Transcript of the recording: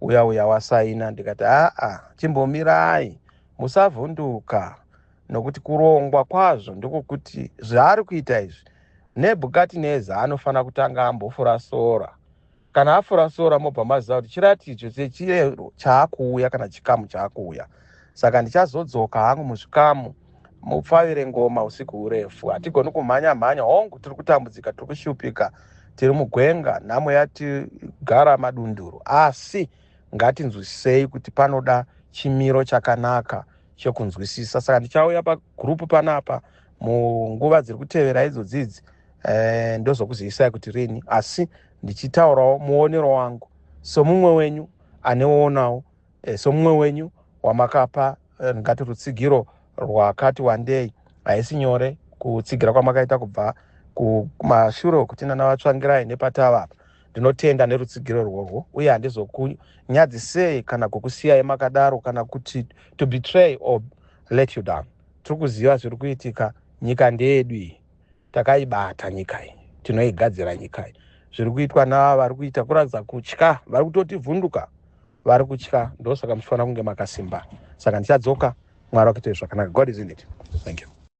uya uya wasaina ndikati aa chimbomirai musavhunduka nokuti kurongwa kwazvo ndokukuti zvaari kuita izvi nebhukatineza anofanira kutanga ambofura sora kana afura sora mobva maziva kuti chiratidzo chechiyero chaakuuya kana chikamu chaakuuya saka ndichazodzoka hangu muzvikamu mupfavire ngoma usiku hurefu hatigoni kumhanya mhanya hongu tiri kutambudzika tiri kushupika tiri mugwenga nhamo yatigara madunduru asi ngatinzwisisei kuti panoda chimiro chakanaka chekunzwisisa saka ndichauya pagurupu panapa munguva dziri kutevera idzodzi idzi eh, ndozokuzivisai kuti rini asi ndichitaurawo muonero wangu somumwe wenyu anewoonawo E, somumwe wenyu wamakapa e, ndingati rutsigiro rwakati wandei haisi nyore kutsigira kwamakaita kubva kumashure okuti nana vatsvangirai nepatava apa ndinotenda nerutsigiro rworwo uye handizokunyadzisei kana kukusiyai makadaro kana kuti to betray or let you down tiri kuziva zviri kuitika nyika ndeyedu iyi takaibata nyika iyi tinoigadzira nyika iyi zviri kuitwa nava vari kuita kuratidza kutya vari kutoti vhunduka vari kutya ndosaka muchifanira kunge makasimba saka ndichadzoka mwari wakuitei zvakanaka god is in it thank you